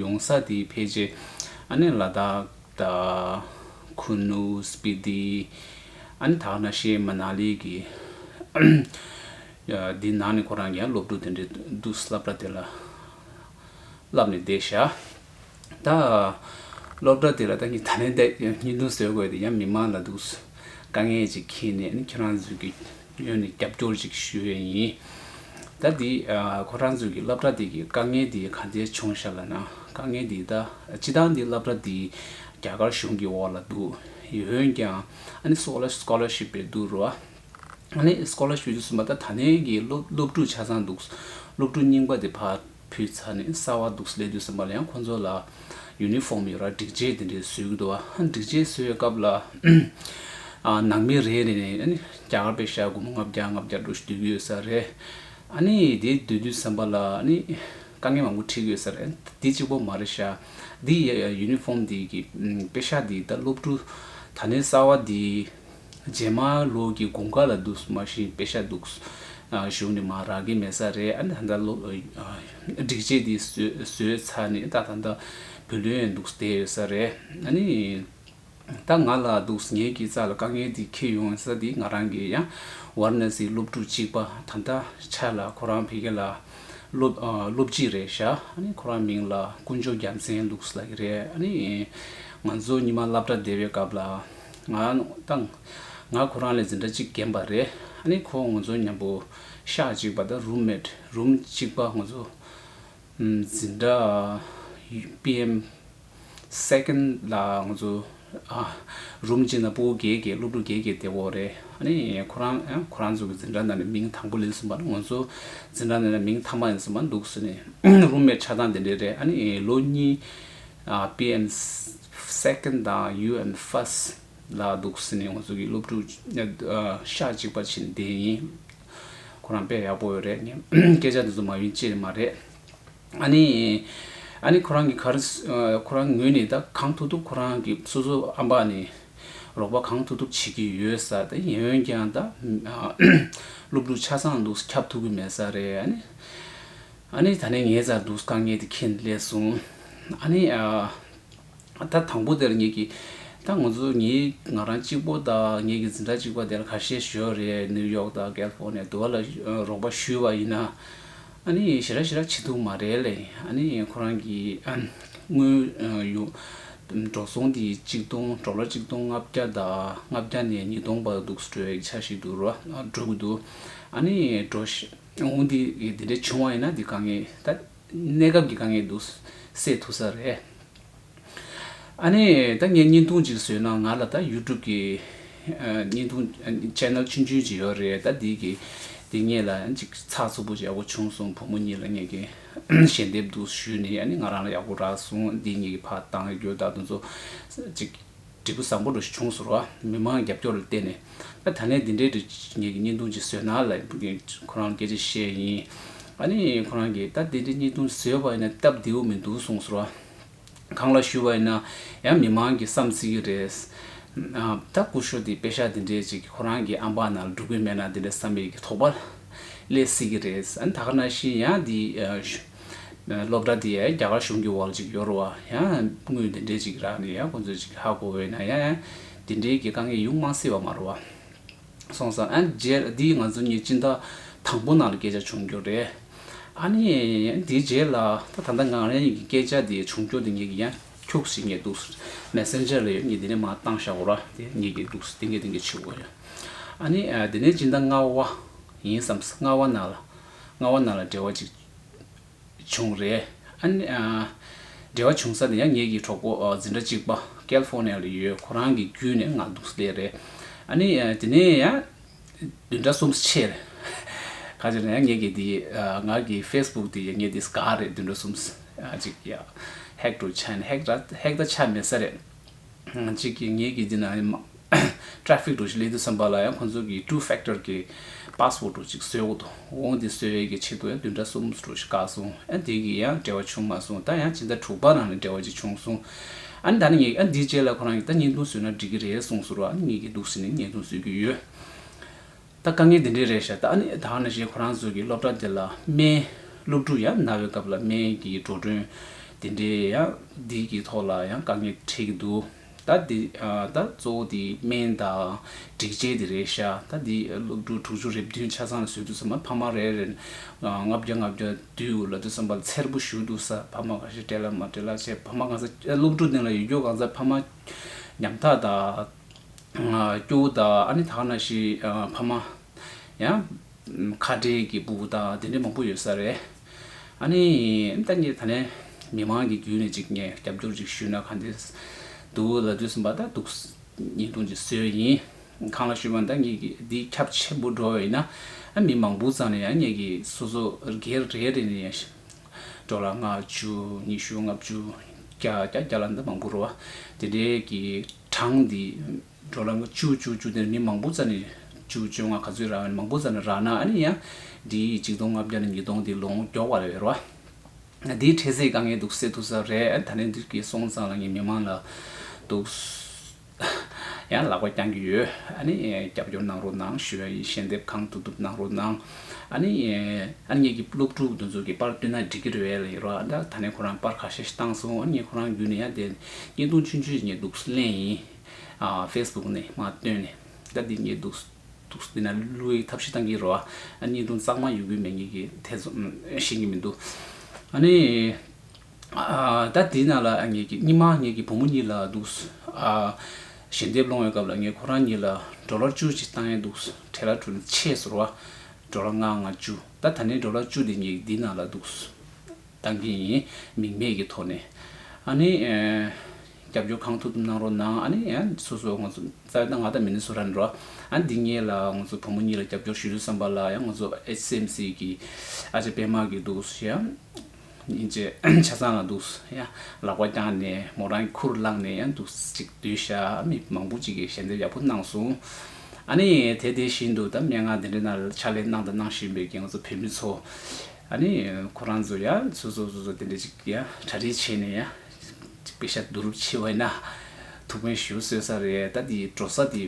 ཡོང་ས་དེ་ཕལ་ཆེ་ཨ་ནི་ལ་དྭགས་དང། ཁུ་ནུ། སྤི་ཏི། ཨ་ནི་དག་ན་ཤེ། མ་ན་ལི་གི། དེ་ནང་ནས་ཁོ་རང་ཡང་སློབ་ཕྲུག་དེ་འདྲས་འདུག་ས་སླབ་གྲ་དེ་ལ་བསླབ་ནས་བསྡད་ཤག་ད། སློབ་གྲ་དེ་ལ་ད་ངས་ད་ལན་བསྡད་ཀྱི་སྙིང་དུ་ཟོས་དགོས་དེ་ཡང་མི་མང་ལ་འདུག་དཀའ་ངལ་ཅིག་ཁྱེད་ནས་ཨ་ནི་ཁྱེད་རང་ཚོའི་གི། ངོས་ནས་རྒྱབ་སྐྱོར་ཅིག་ཞུ་ཡས་ཡིན། ད་དེ་ཁོ་རང་ཚོའི་གི་སླབ་གྲ་དེ་གི་དཀའ་ངལ་དེ་ག་འདྲའི་བྱུང་ཤ་ལ་ན་དཀའ་ངལ་དེ་ད་སྤྱི་བཏང་དེ་སླབ་གྲ་དེ་རྒྱ་གར་གཞུང་གི་འོག་ལ་འདུག་ཡོད་འོན་ཀྱང་ཨ་ནི་སོག་ལ Scholarship པའི་འདུག་རོ་ཨ་ནི Scholarship པའི་འདུག་གསུངས་པ་ད་ཐ་ནའི་གི་སློབ་སློབ་ཕྲུག་ཆ་ཚང་འདུག་སློབ་ཕྲུག་རྙིང་པ་དེ་ཕ། བུའི་རྩ་ནི་གསར་བ་འདུག་སླེ་དུས་ཟམ་པ་ལ་ཡང་ཁོ་ཚོ་ལ་ཡུ་ནི་ཧྥོམ་ཡོད་ར་སྒྲིག་ཆས་དེ་འདྲས་བཟོས་ཀྱི་འདུག་ཨ་སྒྲིག་ཆས་བཟོས་བའི་སྐབས་ལ་ནང་མི་རེ་རེ་ནས་ཨ་ནི་རྒྱ་གར་པའི་ཤག་དགུ་མོ་ལྔ་བརྒྱ་ལྔ་བརྒྱ་འགྲོ་བཞིན་སྡོད་ཀྱི་ཡོད་ས་རེད་ཨ་ནི་དེ་སྡོད་དུས་ཟམ་པ་ལ་ཨ་ནི་དཀའ་ངལ་མང་པོ་འཕྲད་ཀྱི་ཡོད་ས་རེད་འདི་གཅིག་པོ་མ་རེད་ཤག་འདི་ཡུ་ནི་ཧྥོམ་འདི་གི་དཔེ་ཤག་འདི་ད་སློབ་ཕྲུག་ད་ནི་གསར་བ་འདི་རྗེས་མ་ལོག་གི་དགུང་ཁ་ལ་འདུག་མ་བཞིན་དཔེ་ཤ་འདུག་གཞུག་ནས་མ་རག་གི་མེད་ས་རེད་ཨ་ད་ལྟ་སྒྲིག་ཆས་འདི་བཟོས་ཚར་ནས་ཏག་ཏག་ཏག་བུ་ལོན་འདུག་བསྡད་ཡོད་ས་རེད་ཨ་ནི། ད་ང་ལ་འདུག་ངེད་ཀྱི་རྩ་ལ་དཀའ་ངལ་འདི་འཁེལ་ཡོང་ས་འདི་ང་རང་གི་ཡང་བར་ན་ཟིའི་སློབ་ཕྲུག་གཅིག་པ་དམ་ཐག་ཆ་ལ་ཁོ་རང་བྷེ་གྷེ་ལ་སློབ་སྤྱི་རེད་ཤག་ཨ་ནི་ཁོ་རང་མིང་ལ་དཀོན་མཆོག་རྒྱ་མཚན་ལུགས་ལགས་ཀྱི་རེད་ཨ་ནི། ང་ཚོ་གཉིས་མ་བསླབ་གྲྭ་སྡེ་བའི་སྐབས་ལ་ང་དང། ང་ཁོ་རང་ལས་འཛིན་གྲྭ་གཅིག་རྒན་པ་རེད་ཨ་ནི་ཁོ་ངོ་ཚོ་མཉམ་པོ་ཤག་གཅིག་པ་དང་རུམ་མེད་རུམ་གཅིག་པ་ངོ་ཚོ་འཛིན་གྲྭ་པི་ཨེམ་སེ་ཀན་ལ་ངོ་ཚོ་རུམ་གཅིག་ན་སྤོ་བོ་རྒྱལ་རྒྱལ་སློབ་ཕྲུག་རྒྱལ་རྒྱལ་དེ་འོ་རེད་ཨ་ནི་ཁོ་རང་ཁོ་རང་ཚོ་གི་འཛིན་གྲྭ་ནང་ནས་མིང་དང་པོ་ལེན་གསུངས་པ་ནི་ངོ་ཚོ་འཛིན་གྲྭ་ནང་ནས་མིང་མཐའ་མ་ཡིན་གསུངས་པ་འདུག་གསུངས་ནས་རུམ་མེད་ཆགས་སྟངས་དེ་འདྲའི་རེད་ཨ་ནི་ལོ་གཉིས་པི་ཨེན། Second། དང་ཡུ་ཨེན། First། ལ་འདུག་ཟེར་ནས་ང་ཚོ་གི་སློབ་ཕྲུག་ཤག་གཅིག་པ་བྱིན་བདེ་ཡིན། ཁོ་རང་དཔེ་ཡག་པོ་ཡོད་རེད། སྐད་ཆ་འདི་ཚོ་མ་ཡིན་ཅི་ཡིན་མ་རེད། ཨ་ནི། ཨ་ནི་ཁོ་རང་གི་གར། ཁོ་རང་ངོས་ནས་ད་གང་ཐུབ་ཐུབ་ཁོ་རང་གི་སོ་སོ་ཨམ་པ་ནས་རོགས་པ་གང་ཐུབ་ཐུབ་བྱེད་ཀྱི་ཡོད་ས་རེད། ཡིན་འོན་ཀྱང་ད་སློབ་ཕྲུག་ཆ་ཚང་འདུག་ཁྱབ་ཐུབ་ཀྱི་མེད་ས་རེད། ཨ་ནེ་ད་ནི་ངའི་རྩར་འདུག་དཀའ་ངལ་དེ་ཁྱེད་ནས་སླེབས་སོང། ཨ་ནེ། ད་དང་པོ་དེར་ངེད་ཀྱིས། ད་ང་ཚོ་ངེད་ང་རང་གཅིག་པོ་དང་ངེད་ཀྱི་འཛིན་གྲྭ་གཅིག་པ་དེར་ཁ་ཤས་ཞོར་རེ་ནིའུ་ཡོག་དང་ཀལ་ཕོར་ནི་དུ་བ་ལ་རོགས་པ་ཞུས་པ་ཡིན། ཨ་ནེ་ཞེ་ར་ཞེ་ར་བྱེད་འདུག་མ་རེད་ལེ། ཨ་ནེ་ཁོ་རང་གིས་དངུལ་ཡོད། འགྲོ་སོང་དེ་གཅིག་སྟོང་གྲོ་ལོ་གཅིག་སྟོང་ལྔ་བརྒྱ་དང་ལྔ་བརྒྱ་ནས་ཉིས་སྟོང་བར་འདུག་སྤྲོད་ཆ་ཞིག་འགྲོ་གི་འདུག་ཨ་ནེ། དངུལ་འདི་ཡིས་དེ་འདྲའི་བྱུང་བ་ཡིན་ན་འདི་དཀའ་ངལ་ད་གནས་སྐབས་ཀྱི་དཀའ་ངལ་འདུག་སེལ་ཐུབ་ས་རེད། ཨ་ནེ་ད་ངས་བརྙན་ཐུང་ཅིག་བཟོས་ན་ང་ལ་ད YouTube ཀྱི་བརྙན་ཐུང Channel ཆུང་ཆུང་ཅིག་ཡོད་རེད་ད་འདི་གི་དེ་ངེད་ལ་ཅིག་ཚགས་ཚུད་པོ་ཅིག་ཡག་པོ་བྱུང་སོང་བུ་མོ་གཉིས་ལ་ངེད་ཀྱི་ཞལ་འདེབས་འདུག་ཞུས་ནས་ཨ་ནེ་ང་རང་ལ་ཡག་པོ་རག་སོང་འདི་ངེད་ཀྱི་ཕ་བཏང་ཡོད་རྒྱུ་ད་དུང་ཚོ་ཅིག། འབྲས་བུ་བཟང་པོ་འགྲོ་གཞི་ཆུང་ཟུར་བ་མི་མང་རྒྱབ་སྐྱོར་ལ་བརྟེན་ནས་ཨ་ད་ལན་འདི་འདྲའི་རིགས་ངེས་ཀྱི་བརྙན་ཐུང་ཅིག་བཟོས་ན་ལ་ཁོ་རང་སྐད་ཆ་བཤད་ཡིན་ཨ་ནི་ཁོ་རང་གིས་ད་འདི་འདྲའི་བརྙན་ཐུང་བཟོས་པ་ཡིན་ན་སྟབས་བདེ་བོ་མི་འདུག་གསུངས་ཟུར་བ་གང་ལ་ཞུ་བ་ཡིན་ན་ཡང་མི་མང་གིས་བསམ་སྲིད་ཀྱི་རེད། ད་སྐུ་ཞོ་འདི་དཔེ་ཞག་འདི་འདྲའི་ཅིག་ཁོ་རང་གི་ཨམ་བག་ནང་ལ་འགྲོ་གི་མེད་ན་འདི་འདྲའི་བསམ་ཡས་ཀྱི་དོགས་པ་སླེ་སྲིད་ཀྱི་རེད་ཨ་ད་ཁ་ན་ཤིན་ཡང་འདི། སློབ་གྲྭ་དེ་ཡང་རྒྱ་གར་གཞུང་གི་འོག་ལ་ཅིག་ཡོད་རུང་བ་ཡང་དངུལ་དེ་འདྲས་ཅིག་རག་ནས་ཡང་ཁོ་ཚོས་ཅིག་ཧ་གོ་འོས་ན་ཡང་དེ་འདྲས་ཀྱི་དཀའ་ངལ་ཡོང་མ་སྲིད་པ་མ་རུང་བ་སོང་ས་ཨ་ནི་རྗེས་ལ་འདི་ང་ཚོ་གཉིས་སྤྱིན་བདག་དང་པོ་ནང་ལ་སྐད་ཆ་བྱུང་རྒྱུ་རེད། ཨ་ནི་དེའི་རྗེས་ལ་ད་ད་ལྟ་ང་རང་ཉིད་ཀྱི་སྐད་ཆ་དེ་བྱུང་རྒྱུ་དེ་ངེད་ཀྱིས་ཡང་འཁྱུག་ཟིན་ངེས་འདུག Messenger ལ་ཡང་ངས་དེ་ནས་མ་བཏང་ཤག་གོ་ར་དེ་ངེས་ཀྱི་འདུག་དེ་ངས་དེ་ངས་ཕྱི་གོ་ཨ་ནི་དེ་ནས་སྤྱིན་བདག་རྔ་བ་ཡིན་བསམ་སྔ་བ་ན་ལ་རྔ་བ་ན་ལ་འབྲེལ་བ་ཅིག་བྱུང་རེད། འབྲེལ་བ་བྱུང་ས་ནི་ཡང་ངེད་ཀྱི་གྲོགས་པོ་འཛིན་གྲྭ་གཅིག་པ་ཀལ་ཧྥོ་ནེ་ལ་ཡོད་ཁོ་རང་གི་བརྒྱུད་ནས་ང་འདུག་ས་དེ་རེད། དེ་ནས་ཡང་བདུན་ཕྲག་གསུམ་ཕྱིར། ཁ་ཅིག་ལ་ཡང་ངེད་ཀྱི་འདིའི་ང་གི་ཧྥེསྦུག་དེ་ཡང་ངེད་འདིས་དགའ་རེད་བདུན་ཕྲག་གསུམ་ཅིག་ཡང་ཧེག་ཏུ་ཆགས་ནས་ཧེག་ད་ཆགས་མེད་ས་རེད། གཅིག་གིས་ངེད་ཀྱི་འདི་ན Traffic འགྲོ་ཞིག་གླེང་དུས་བསམ་པ་ལ་ཡང་ཁོང་ཚོ་གིས Two Factor གི Passport འགྲོ་ཅིག་བཟོས་འོང་འོང་དེ་བཟོས་བའི་གི་ཆེད་དུ་ཡང་བདུན་ཕྲག་གསུམ་འགྲོ་ཞིག་བཀག་སོང་ཨ་དེ་གི་ཡང་འབྲེལ་བ་བྱུང་མ་སོང་ད་ཡང་ཕྱི་ཟླ་དྲུག་པ་རང་ལ་འབྲེལ་བ་ཅིག་བྱུང་སོང་ཨ་ནི་ད་ནི་ངེད་ཨ་འདིའི་རྗེས་ལ་ཁོ་རང་གིས་ད་བརྙན་ཐུང་བཟོས་ན་འགྲིག་གི་རེད་གསུངས་སོ་རོ་ཨ་ནི་ངེད་ཀྱིས་འདུག་ཟེར་ནས་བརྙན་ཐུང་བཟོས་ཀྱི་ཡོད། ད་དཀའ་ངལ་འདི་འདྲས་རེད་ཤག་ད་ནི་ད་ནི་ཞེས་ཁོ་རང་ཚོ་གི་སློབ་གྲྭ་འདི་ལ་སྨན་སློབ་ཕྲུག་ཡ་ན་བའི་སྐབས་ལ་སྨན་གྱི་འགྲོ་གྲོན་འདི་འདྲས་ཡ་འདི་གི་ཐོག་ལ་ཡང་དཀའ་ངལ་འཕྲད་ཀྱི་འདུག་ད་འདི་ད་གཙོ་བོ་འདི་སྨན་དང་སྒྲིག་ཆས་འདི་རེད་ཤག་ད་འདི་སློབ་ཕྲུག་དྲུག་ཅུ་རེ་བདུན་ཆ་ཚང་ལ་བཟོས་འདུག་བསམ་ན་ཕ་མ་རེ་རེར་ལྔ་བརྒྱ་ལྔ་བརྒྱ་དུས་དགོས་ལབ་དུས་བསམ་པ་འཚེར་པོ་བཞུགས་འདུག་ས་ཕ་མ་ག་ཤེད་སྤྲད་ལ་མ་སྤྲད་ལ་བྱས་ཕ་མ་གང་ས་སློབ་ཕྲུག་འདི་ལ་ཡོད་རྒྱུ་གང་ས་ཕ་མ་ཉམ་ཐག་དང། སྐྱོ་བོ་དག་ཨ་ནི་དག་ན་ཤི་ཕ་མ་ཡང། ཁ་བྲལ་གྱི་སྤུ་བོ་དག་དེ་འདྲའི་མང་པོ་ཡོད་ས་རེད། ཨ་ནི་ད་ངས་ད་ནས་མི་མང་གི་རྒྱུད་ནས་ཅིག་ངས་རྒྱབ་སྐྱོར་ཅིག་ཞུས་ན་ག་འདྲེས་འདུག་ལབ་འདོད་ཟིན་པ་དག་འདུག་ཉིས་སྟོང་གི་སྲོལ་ཡིན། གང་ལ་ཞུས་པ་ད་ངས་ཀྱི་འདི་ཁྱབ་ཆེན་པོ་འགྲོ་བ་ཡིན་ན་མི་མང་པོ་ཙམ་ནས་ཡང་ངས་ཀྱི་སོ་སོ་སྒེར་རེ་རེ་ནས་ཡང་འགྲོ་ལ་ལྔ་བཅུ་ཉི་ཤུ་ལྔ་བཅུ་བརྒྱ་བརྒྱ་བརྒྱ་ལ་འདི་མང་པོ་རོ་དེ་འདྲའི་གི། གྲངས་འདི། འགྲོ་ལམ་བཅུ་བཅུ་བཅུ་དེར་མི་མང་པོ་ཙམ་ནི། བཅུ་བཅོ་ལྔ་ག་ཚོད་རག་ཡོད་མང་པོ་ཙམ་ནི་རག་ན་ནི་ཡང། འདི་ཡིས་གཅིག་སྟོང་ལྔ་བརྒྱ་ནས་ཉིས་སྟོང་འདི་ལོངས་མགྱོགས་བ་རེད་རོ། འདིའི་འཕྲལ་ཚེ་དཀའ་ངལ་དུག་སེལ་ཐུབ་ས་རེད་ད་ནི་འདིར་གྱིས་སོང་ཙང་ལ་ངས་མི་མང་ལ། དུག། ཡང་ལག་པ་བརྐྱང་གི་ཡོད། རྒྱབ་སྐྱོར་གནང་རོགས་གནང་ཞུ་བ་ཡིན་ཞལ་འདེབས་གང་ཐུབ་ཐུབ་གནང་རོགས་གནང། ངེད་ཀྱི་སློབ་ཕྲུག་དེ་ཚོ་གི་པར་བསྟུན་ན་འགྲིག་གི་རེད་རོ། ད་ནི་ཁོ་རང་པར་ག་ཤེད་ཤེད་བཏང་སོང་ངས་ཁོ་རང་བརྒྱུད་ནས་ཡང་དེ། བརྙན་ཐུང་ཆུང་ཆུང་ཞིག་རྙེད་འདུག་ལན་ཡིན། Facebook ནས་མ་བཏོན་ནས་ད་འདི་རྙེད་འདུག། འདི་ན་གླུ་བའི་ཐབས་ཤེས་གཏང་གི་རོ། བརྙན་ཐུང་གཙང་མ་ཡོད་དགོས་མེད་ངེད་ཀྱི་ཐེ་ཚོམ་ཤེས་ཀྱི་མི་འདུག། ནི། ད་འདི་ན་ལ་ངེད་ཀྱི་སྙིང་མ་ངེད་ཀྱི་བུ་མོ་གཉིས་ལ་འདུག། ཞལ་འདེབས་སློང་བའི་སྐབས་ལ་ངེད་ཁོ་རང་གཉིས་ལ་འགྲོ་ལོར་བཅུ་ཅིག་བཏང་ཡས་འདུག་གྲལ་ལ་གྲུ་ཆས་ཟུར་བ། འགྲོ་ལོ་ལྔ་ང་བཅུ། ད་ད་ནི་འགྲོ་ལོ་བཅུ་འདི་ངེད་ཀྱི་འདི་ན་ལ་འདུག། བཏང་གི་ཡིན། མིང་མེད་ཀྱི་ཐོག་ནས། ཨ་ནི། རྒྱབ་སྐྱོར་གང་ཐུབ་གནང་རོགས་གནང། ཨ་ནི། སོ་སོ་ང་ཚོ། རྩ་བའི་ཏང་ང་དང་མི་ནི་སུ་ར་ནི་རོ། ཨ་ནི་འདི་གཉིས་ལ་ང་ཚོ་བུ་མོ་གཉིས་ལ་རྒྱབ་སྐྱོར་ཞུ་རྒྱུ་བསམ་པ་ལ་ཡང་ང་ཚོ HCMC གི། ཨ་ཅེ་པད་མ་གིས་འདུག་ཤེ་ཡ། ཉིན་བྱེད་ཆ་ཚང་ལ་འདུག་ཤེ་ཡ། ལག་པ་བརྐྱངས་ནས་མོ་རང་གི་ཁུར་བླངས་ནས་ཡང་འདུག་ཅིག་བསྡུས་ཤ་མི་མང་པོ་ཅིག་གིས་ཞལ་འདེབས་ཡག་པོ་གནང་སོང། ཨ་ནི། དེ་དེ་བཞིན་དུ་ད་སྨྲེ་སྔགས་དེ་འདྲས་ན་ཕྱག་ལས་གནང་དང་གནང་བཞིན་པའི་ང་ཚོ་བོད་མི་ཚོ། ཨ་ནི་ཁོ་རང་ཚོ་ཡང་སོ་སོ་སོ་སོ་དེ་འདྲ་ཅིག་ཡང་གྲ་སྒྲིག་བྱས་ནས་ཡང་དཔེ་ཆ་བསྡུ་རུབ་བྱེད་བས་ན་ཐུགས་ཕན་ཞུ་སྲོལ་ས་རེད་ད་དེ་འགྲོ་ས་དེ་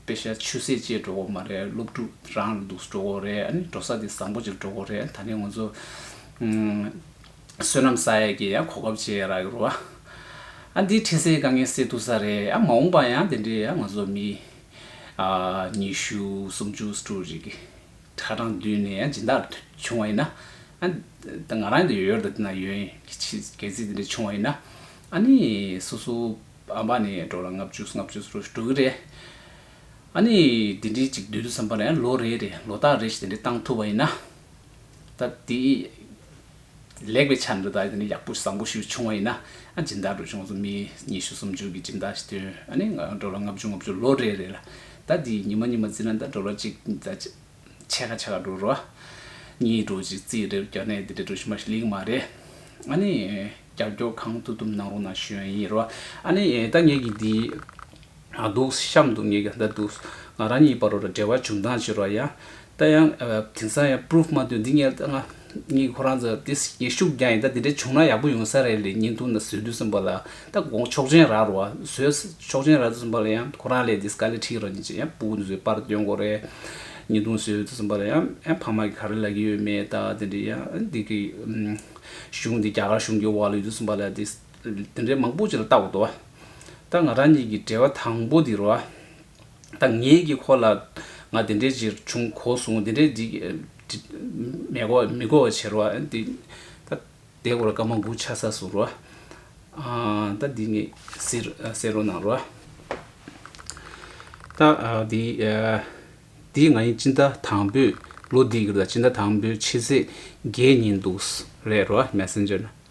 དཔེ་ཆ་ཆུ་ཟད་བཅས་འགྲོ་གོ་མ་རེད་སློབ་ཕྲུག་རང་ལ་འདུག་འགྲོ་གོ་རེད་ཨ་ནི་འགྲོ་ས་དེ་བཟང་པོ་ཅིག་འགྲོ་གོ་རེད་ད་ནི་ང་ཚོ་བསོད་ནམས་ས་ཡ་ཀྱི་ཡང་གོ་སྐབས་བྱས་རག་ཡོད་རེད་ཨ་འདི་འཕྲིན་གསལ་དཀའ་ངལ་སེལ་ཐུབ་ས་རེད་ཡང་མ་འོངས་པ་ཡང་དེ་འདྲའི་ཡང་ང་ཚོ་མི་ཉི་ཤུ་སུམ་ཅུ་སུ་ཕྲུག་རིག་ཁྲ་གྲང་བསྡུས་ནས་སྦྱིན་བདག་ལ་བྱུང་བ་ཡིན་ན། ད་ང་རང་ཡོད་དུ་ན་ཡོན་གྱི་ཆེ་གེ་ཚིག་དེ་འདྲ་བྱུང་བ་ཡིན་ན། ཨ་ནི་སོ་སོ་ཨ་མ་ནི་འགྲོ་ལ་ལྔ་བཅུ་ལྔ་བཅུ་ལོ་འགྲོ་གི་རེད། ཨ་ནི་དེ་འདྲའི་ཅིག་བསྡུས་འདུག་བསམ་པ་ལ་ལོ་རེ་རེ་ལོ་རྟགས་རེ་ཞིག་དེ་འདྲ་བཏང་ཐུབ་པ་ཡིན་ན། ད་དེ། ལེགས་པའི་ཆ་འདི་དག་ནི་ཡག་པོ་བཟང་པོ་ཞིག་བྱུང་བ་ཡིན་ན་སྦྱིན་བདག་འགྲོ་ཆུང་ཚོ་མི་ཉི་ཤུ་སུམ་ཅུ་གི་སྦྱིན་བདག་ཞིག་སྟོན་ཨ་ནི་འགྲོ་ལོ་ལྔ་བཅུ་ལྔ་བཅུ་ལོ་རེ་རེ་ལ་ཟླ་འདིའི་ཉི་མ་གཉིས་མ་བརྩིས་ན་ཟླ་འགྲོ་ལོ་གཅིག་ཕྱེད་ཀ་ཕྱེད་ཀ་འགྲོ་རོ། གཉིས་འགྲོ་གཅིག་རྩིས་རེར་བརྒྱབ་ནས་འདི་འདྲའི་འགྲོ་ཞིང་མ་ཞིག་ལེགས་མ་རེད། ཨ་ནི་རྒྱབ་སྐྱོར་གང་ཐུབ་ཐུབ་གནང་རོགས་གནང་ཞུ་ཡི་རོ། ཨ་ནི་ད་ངེད་ཀྱི་འདི། འདུག་གཤམ་དུ་ངས་ཀྱང་བལྟ་འདུག་ང་རང་གཉིས་བར་འབྲེལ་བ་བྱུང་སྟངས་ཕྱི་རོལ་ཡང་ལྟ་ཡང་དེང་སང་ཡང Proof མ་ཐོན་འདི་ངས་ལྟ་ང་གཉིས་ཁོ་རང་ཚོ་དེ་སྐྱེ་ཤུགས་རྒྱག་ཡིན་ད་དེ་འདྲ་བྱུང་ན་ཡག་པོ་ཡོང་ས་རེད་ལེ་ཉིན་ཐུང་ན་བཟོས་དུས་གསུམ་པ་ལ་ད་དགོངས་ཆོག་མཆན་རག་རོགས་བཟོས་ཆོག་མཆན་རག་དུས་གསུམ་པ་ལ་ཡང་ཁོ་རང་ལས་དེ་སྐ་ལས་ཁྲིད་རོགས་ཉིན་གཅིག་ཡང་པུའུ་བཟོས་པར་སྟོན་དགོས་རེད་ཉིན་ཐུང་བཟོས་དུས་གསུམ་པ་ལ་ཡང་ཕ་མ་གི་ག་རེ་ལབ་ཀྱི་ཡོད་མེད་ད་དེ་འདྲ་ཡང་འདི་གི་གཞུང་འདི་རྒྱ་གར་གཞུང་གི་འོག་ལ་ཡོད་དུས་གསུམ་པ་ལ་དེ། དེ་འདྲའི་མང་པོ་ཅིག་ལ་བལྟ་འོ་དོ། ད་ང་རང་ཉིད་ཀྱི་འབྲེལ་བ་དང་པོ་འདི་རུ། ད་ངེད་ཀྱིས་ཁོ་ལ་ང་དེ་འདྲའི་ཅིག་བྱུང་གོ་གསུང་དེ་འདྲའི་འདི་མི་གོ་མི་གོ་བ་བྱེད་རོ། ད་དེ་སྐོར་སྐར་མ་དགུ་ཆ་ས་སུ་རུ། ད་འདི་ངས་ཟེར་རོ་གནང་རོ། ད་འདི་འདི་ང་ཡིན་སྤྱིན་ཟླ་དང་པོའི་ལོ་འདི་གི་ལ་སྤྱིན་ཟླ་དང་པོའི་ཕྱི་ཚེས་བརྒྱད་ཉིན་འདུག་རེད་རོ། Messenger།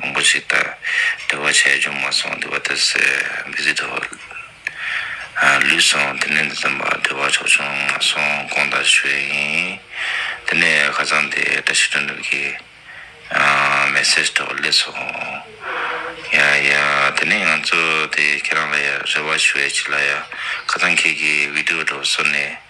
མང་པོ་ཞིག་ལྟར་འདུལ་བ་ཆེ་ཆུང་མ་སོང་འདུལ་བ་དེ་སྲས་མི་གཟིགས་དོ། ལུས་སོང་དེ་ནས་འདི་ཙམ་པར་འདུལ་བ་ཆོག་ཆུང་མ་སོང་གོང་ལྟར་ཞུ་ཡས་ཡིན། དེ་ནས་ཁ་རྩང་དེ་བཀྲ་ཤིས་དོན་འགྲུབ་ཀྱིས་མེ་སྲེག་ཐོག་སླེབས་སོང། ཡ་ཡ་དེ་ནས་ང་ཚོ་དེ་ཁྱེད་རང་ལ་ཡ་རེ་བ་ཞུ་ཡས་ཅི་ལ་ཡ་ཁ་རྩང་ཁྱེད་ཀྱིས་བིདེའུ་སྒྲོག་བཟོ་ནས་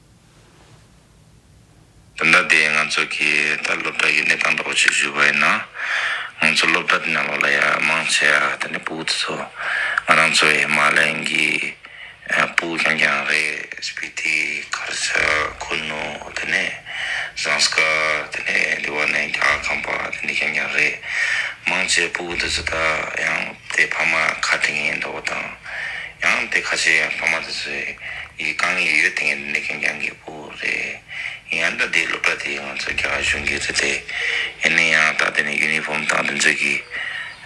སྦྱོང་བརྡར་འདི་ང་ཚོ་གིས་ད་སློབ་གྲྭ་ཡུན་གནས་སྟངས་ཐོག་བྱེད་བཞིན་པ་ཡིན་ན། ང་ཚོ་སློབ་གྲྭ་འདི་ནང་ལོགས་ལ་ཡ་མང་ཆེ་བ་ད་ནི་པུའུ་དེ་ཚོ་ང་རང་ཚོའི་ཧི་མ་ལན་གྱི་པུའུ་རྐྱང་རྐྱང་རེད། སྤི་ཏི། ཁར་ཆག། ཁུ་ནུ། དེ་ནས་ཟངས་དཀར། དེ་ནས་འདི་བ་ནས་རྒྱ་གར་ཁམས་པ་དེ་འདྲ་རྐྱང་རྐྱང་རེད། མང་ཆེ་བ་པུའུ་དེ་ཚོ་ད་ཡང་དེ་ཕ་མ་ཁ་བྲལ་ངེས་འདུག་པ་དང། ཡང་དེ་ཁ་ཆེ་ཡང་ཕ་མ་དེ་ཚོས། ཡིག་གང་ཡིན་ཡོད་དེ་ངས་འདི་འདྲ་ཁྱེད་རང་གི་བུ་རེད་ཡང་འདྲ་དེའི་སློབ་གྲྭ་དེ་ང་ཚོ་རྒྱ་གར་གཞུང་གི་རེད་དེ་ཡིན་ན་ཡང་ད་དེ་ནས་ཡུ་ནི་ཧྥོམ་དང་དེ་ཚོད་ཀྱི་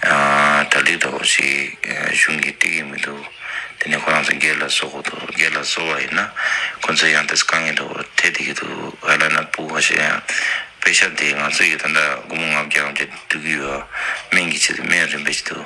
གྲ་སྒྲིག་འདྲ་བོ་ཞིག་གཞུང་གིས་སྤྲད་ཀྱི་མི་འདུག་དེ་ནས་ཁོ་རང་ཚོ་སྒེར་ལ་བཟོ་དགོས་འདུག་སྒེར་ལ་བཟོ་བ་ཡིན་ན་ཁོ་ཚོས་ཡང་དེ་ཚོ་གང་ཡིན་འདྲ་བོ་སྤྲད་བསྡད་ཀྱི་འདུག་ག་ལ་ན་སྤུ་བ་ཞིག་ཡང་སྤེལ་ཤ་དེ་ང་ཚོ་ཡིས་ད་འདྲ་སྒོར་མོ་ང་བརྒྱ་ང་བརྒྱ་སྡུག་གི་ཡོད་སྨན་གྱི་ཆེད་དུ་སྨན་རིན་པོ་ཆེ་འདུག་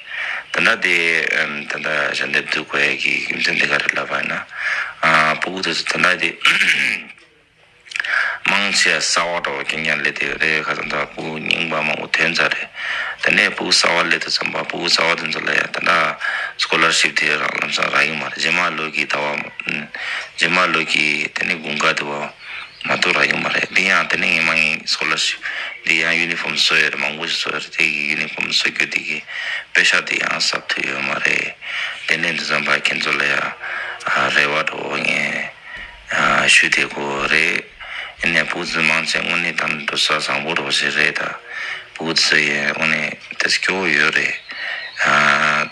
ད་ལྟ་དེ་ད་ལྟ་ཞལ་འདེབས་བསྡུ་དགོས་ཡས་ཀྱི་རྒྱུ་མཚན་དེ་ག་རེད་ལབ་པ་ཡིན་ན། པུ་གུ་དེ་ཚོ་ད་ལྟ་དེ་དམངས་ཆེད་གསར་བ་འགྲོ་བ་རྐྱང་རྐྱང་སླེབས་དེ་རེད་ཁ་ཙམ་ད་པུ་གུ་རྙིང་པ་མང་པོ་ཐོན་ཚར་རེད། དེ་ནས་པུ་གུ་གསར་བ་སླེབས་དུས་ཙམ་པ་པུ་གུ་གསར་བ་དེ་ཚོ་ལ་ཡང་ད་ལྟ Scholarship དེ་རང་ལམ་སང་རག་གི་མ་རེད་རྗེས་མ་ལོས་ཀྱི་ད་བ། རྗེས་མ་ལོས་ཀྱི་དེ་ནས་དགུན་ཁ་དེ་བ། མ་གཏོགས་ར་ཡོད་མ་རེད་དེ་ཡང་དེ་ནི་ངེས་མ་ངེས་སྐོར་ལ་ཞིག་དེ་ཡང་ཡུ་ནི་ཧྥོམ་བཟོ་ཡོད་རེད་མང་པོ་ཞིག་བཟོ་ཡོད་རེད་དེ་གི་ཡུ་ནི་ཧྥོམ་བཟོ་རྒྱུ་དེ་གི་དཔེ་ཤག་དེ་ཡང་གསབ་ཐུབ་ཡོད་མ་རེད་དེ་ནས་འདི་ཙམ་བར་ཁྱེད་ཚོ་ལ་ཡང་རེ་བ་དྲོ་བོ་ངས་ཞུས་དེ་གོ་རེད་ཨེ་ནས་བུ་བཟོས་མང་ཆེ་དངོས་གནས་དམ་དྲོ་ས་བཟང་པོ་རོ་ཞིག་རེད་ད་བུ་བཟོས་ཡོད་དངོས་གནས་དེ་སྐྱོ་བོ་ཡོད་རེད།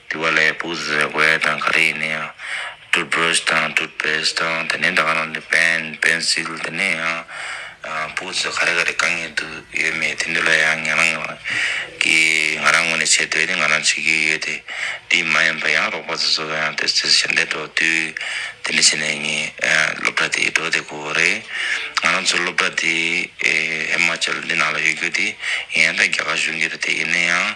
དེ་བ་ལས་སྤུ་ཟེར་བས་དང་ག་རེ་ཡིན་ན་ཡང། Toothbrush དང Toothpaste དང་དེ་ནས་ད་ག་ནང་ནས Pen Pencil དེ་ནས་ཡང། སྤུ་ཟེར་ག་རེ་ག་རེ་གང་ཡིན་འདུག་ཡོད་མེད་དེ་འདུག་ལ་ཡང་ང་རང་གི་ང་རང་ངོས་ནས་བྱེད་འདོད་ནི་ང་རང་བྱེད་ཀྱི་ཡོད་དེ། དེ་མ་ཡིན་པ་ཡང་རོགས་པ་ཚོ་ཚོ་ཡང་ཏེ་ཞལ་འདེབས་འགྲོ་དུས་དེ་འདྲ་བྱས་ནས་ངའི་སློབ་གྲྭ་དེ་འགྲོ་བདེ་གོ་རེད། ང་རང་ཚོ་སློབ་གྲྭ་དེ་ཧི་མ་ཅལ་འདི་ནང་ལ་ཡོད་རྒྱུ་དེ་ཡིན་ཡང་ད་རྒྱ་གར་གཞུང་གི་རེད་དེ་ཡིན་ན་ཡང།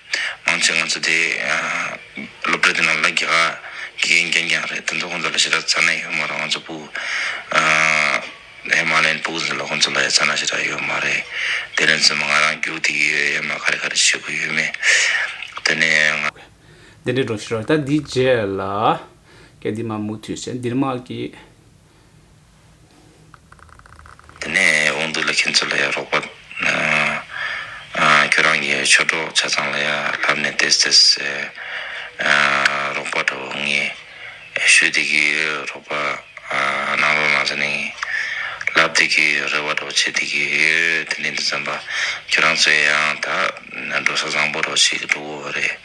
མང་ཆེ་ང་ཚོ་དེ་སློབ་གྲྭ་དེ་ནང་ལ་རྒྱ་གར་དགེ་རྒན་རྐྱང་རྐྱང་རེད་དེ་ཚོ་ཁོང་ཚོ་ལ་ཞེ་དྲག་ཚ་ནད་ཡོད་མ་རེད་ང་ཚོ་སྤུ་ཧེ་མ་ལའི་སྤུ་ཟེར་ལ་ཁོང་ཚོ་ལ་ཡང་ཚ་ནད་ཞེ་དྲག་ཡོད་མ་རེད་དེ་ནས་ཚོད་མ་ང་རང་རྒྱུགས་དེ་ཡོད་ཡོད་མ་ག་རེ་ག་རེ་བྱེད་དགོས་ཡོད་མེད་དེ་ནས་ང། འདི་འདྲས་འགྲོ་ཤི་རོགས་ད་འདིའི་རྗེས་ལ་སྐད་འདི་མ་མུ་མཐུད་བཤད་འདིར་མ་གི། དེ་ནས་འོང་དུས་ལ་ཁྱེད་ཚོ་ལ་ཡང་རོགས་པ། ཁྱོད་རང་གི་ཆོས་གྲོགས་ཆ་ཚང་ལ་ཡང་ལབ་ནས་དེད་དེད་རོགས་པ་འདྲ་བོ་ངས་ཞུས་དེ་གི་རོགས་པ་གནང་རོགས་གནང་ཟེར་ནས་ལབ་དེ་གི་རེ་བ་འདྲ་བོ་བྱས་དེ་གི་ཡོད་དེ་ནས་དེ་ཙམ་པ་ཁྱོད་རང་ཚོས་ཡང་ད། ན་འགྲོ་ས་བཟང་པོ་རོགས་ཞིག་གིས་འགྲོ་གོ་རེད།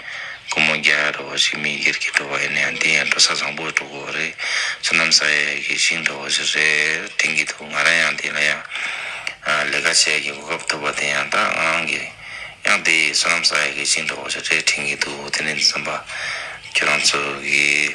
ཀུ་མོ་རྒྱ་ཡག་རོགས་ཞིག་མི་སྒེར་གྱིས་འགྲོ་བ་ཡིན་ན་ཡང་དེ་ཡང་འགྲོ་ས་བཟང་པོ་འགྲོ་གོ་རེད། བསོད་ནམས་ས་ཡ་ཡག་གིས་ཞིག་འགྲོ་གོ་ཞིག་རེད་དྲན་གྱི་འདུག་ང་རང་ཡང་དེ་ལ་ཡང། ལས་ཀ་བྱེད་ཀྱི་གོ་སྐབས་ཐོབ་པ་དེ་ཡང་ཏང་ཨང་གིས་ཡང་དེ་བསོད་ནམས་ས་ཡ་ཡག་གིས་ཞིག་འགྲོ་གོ་ཞིག་རེད་དྲན་གྱི་འདུག་དེ་ནས་འཛིན་པ། ཁྱོད་རང་ཚོ་གིས།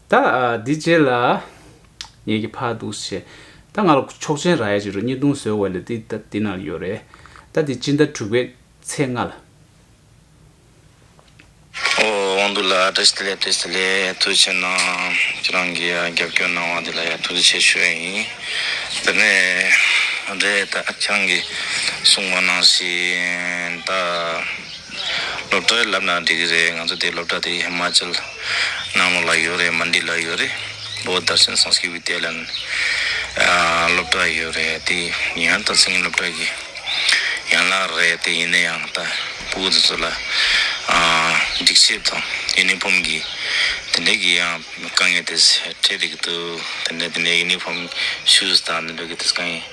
ད་འདི་རྗེས་ལ། ངེད་ཀྱི་ཕ་འདུག་ཞེས། ད་ང་ལ་ཆོག་མཆན་རག་ཡ་ཅིག་རོ་གཉིས་བརྡུང་ཟོས་བས་ལས་འདི་ད་འདི་ན་ཡོད་རེད། ད་འདི་སྤྱི་ཟླ་དྲུག་པའི་ཚེས་ལྔ་ལ། ཨོ་དབང་འདུག་ལ་བཀྲ་ཤིས་བདེ་ལེགས་བཀྲ་ཤིས་བདེ་ལེགས་ཐུགས་ཆེ་གནང། ཁྱེད་རང་གི་རྒྱབ་སྐྱོར་གནང་བ་འདི་ལ་ཡང་ཐུགས་རྗེ་ཆེ་ཞུ་ཡ་ཡིན། དེ་ནས་རེད་ད་ཨ་ཁྱང་གིས་གསུངས་པ་ནང་བཞིན་ད། སློབ་གྲྭའི་ལབ་ནང་འགྲིག་གི་རེད་ང་ཚོ་དེ་སློབ་གྲྭ་དེ་ཧི་མཱ་ཅལ་ནང་ལོག་ལ་ཡོད་རེད་མཱན་དི་ལ་ཡོད་རེད་བོད་དར་ཤན་སངས་སྐྱིད་བི་ཏེ་ལན་སློབ་གྲྭ་ཡོད་རེད་དེ་ཡང་ད་སིང་ངེ་སློབ་གྲྭ་གི་ཡན་ལག་རེད་དེ་ཡིན་ན་ཡང་ད་བོད་དེ་ཚོ་ལ་སྒྲིག་ཆས་དང་ཡུ་ནི་ཕོམ་གི་དེ་འད་གི་ཡང་དཀའ་ངལ་དེ་འཕྲད་འད་གི་འདུག་དེ་འད་དེ་འད་ཡུ་ནི་ཕོམ་ཤུ་ཟ་དང་དེ་འད་གི་དེ་ཚོ་དཀའ་ངལ།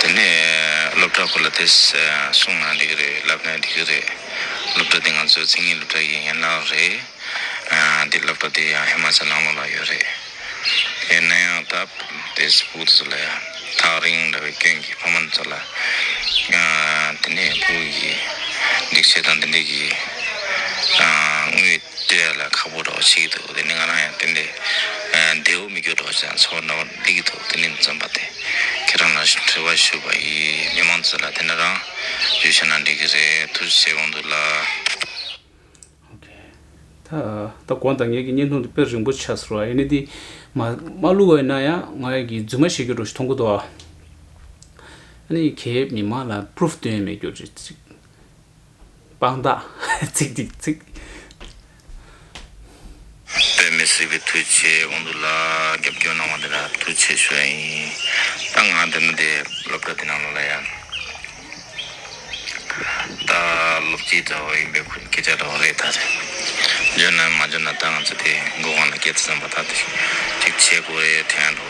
དེ་ནས་སློབ་གྲྭ་སྐོར་ལ་དེ་གསུངས་ན་འགྲིག་གི་རེད་ལབ་ན་འགྲིག་གི་རེད། སློབ་གྲྭ་དེ་ང་ཚོའི་མཚན་ཉིད་སློབ་གྲྭ་ཡི་ཡན་ལག་རེད། དེ་སློབ་གྲྭ་དེ་ཡང་ཧི་མ་ཅལ་ནང་ལོགས་ལ་ཡོད་རེད། ཡིན་ན་ཡང་སྟབས་བདེ་ཟུ་བོ་དེ་ཚོ་ལ་ཡང་ཐག་རིང་འདྲ་བའི་སྐྱོན་གྱིས་ཕ་མ་འདི་ཚོ་ལ་དེ་ནས་བུ་ཡིས་འགྲིག་བྱེད་དང་འདི་འགྲིག་གི་དངུལ། ལྟོས་ཡ་ལ་ཁག་པོ་སྒྲོག་བྱེད་ཀྱི་འདུག་དེ་ནི་ང་རང་ཡང་དེ་འདྲའི་བདེའོ་མི་འགྱུར་སྒྲོག་བྱེད་ཀྱང་ཚོར་འདྲ་བ་འདི་གི་འདུག་དེ་ནི་བཙོན་པ་དེ་ཁྱེད་རང་ལ་དྲི་བ་ཞུ་བ་ཡིན་མི་མང་ཚོས་ལ་དེ་འདྲ་རང་བརྗོད་བྱས་ན་འགྲིག་གི་རེད་ཐུགས་རྗེ་ཆེ་གང་འདུག་ལགས། ད་དགོངས་དག་ངེད་ཀྱི་བརྙན་ཐུང་དེ་དཔེ་རིང་པོ་ཆགས་ཚར་བ་ཡིན་ནི་འདི་མ་བླུགས་བ་ཡིན་ན་ཡང་ང་ཡི་གི་རྫུན་མ་བཤད་རྒྱུ་འགྲོ་ཞིག་མཐོང་གི་འདུག་ཨ་ནི་གས་མི་མང་ལ proof སྟོན་ཡ་མེད་རྒྱུ་རེད་ཅིག། དཔང་རྟགས། ཚིག་ཐིག་ཚིག། དཔེ་མི་སྲིད་པའི་དུས་ཆེ་འོང་འདུག་ལ་རྒྱབ་སྐྱོར་གནང་བ་འདི་འདྲ་ཐུགས་ཆེ་ཞུ་ཡ་ཡིན། ད་ང་དེ་མི་དེ་སློབ་གྲྭ་དེ་ནང་ལོག་ལ་ཡ། ད་སློབ་སྤྱི་འདྲ་བོ་ཡིན་པའི་ཁུར་སྐད་ཆ་འདྲ་བོ་རེད་ད། འཇོན་ན་མ་འཇོན་ན་ད་ང་ཚོ་དེ་མགོ་གང་ལ་སྐྱེལ་ཐུབ་སམ་པ་ད་དེ་ཅིག་བྱེད་དགོས་རེད་དྲན་འགྲོ།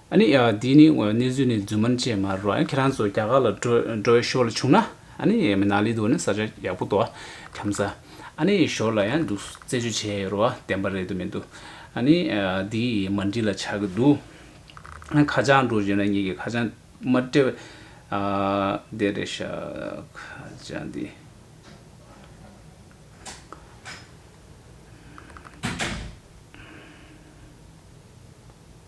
ཨ་ནི། འདི་ནི་གནས་ཚུལ་ནི་རྫུན་མ་ཅན་མ་རུ། ཁྱེད་རང་ཚོ་རྒྱ་གར་ལ་འགྲོ་འི་ཞོར་ལ་བྱུང་ན། ཨ་ནི། ནཱ་ལི་དུ་ནི་ས་ཆ་ཡག་པོ་འདུག་ཁྱམ་ས། ཨ་ནི། ཞོར་ལ་ཡང་འདུག་རྩད་གཅོད་བྱས་ཡོད་རུང་བདེན་པ་རེད་དུ་མི་འདུག་ཨ་ནི། འདི་མ་འགྲིག་ལ་ཆགས་ཀྱི་འདུག་ཁ་བྱང་འགྲོ་བཞིན་ན་ངེད་ཀྱི་ཁ་བྱང་མ་སྤྲད། བདེ་རེད་ཤག་ཁ་བྱང་འདི།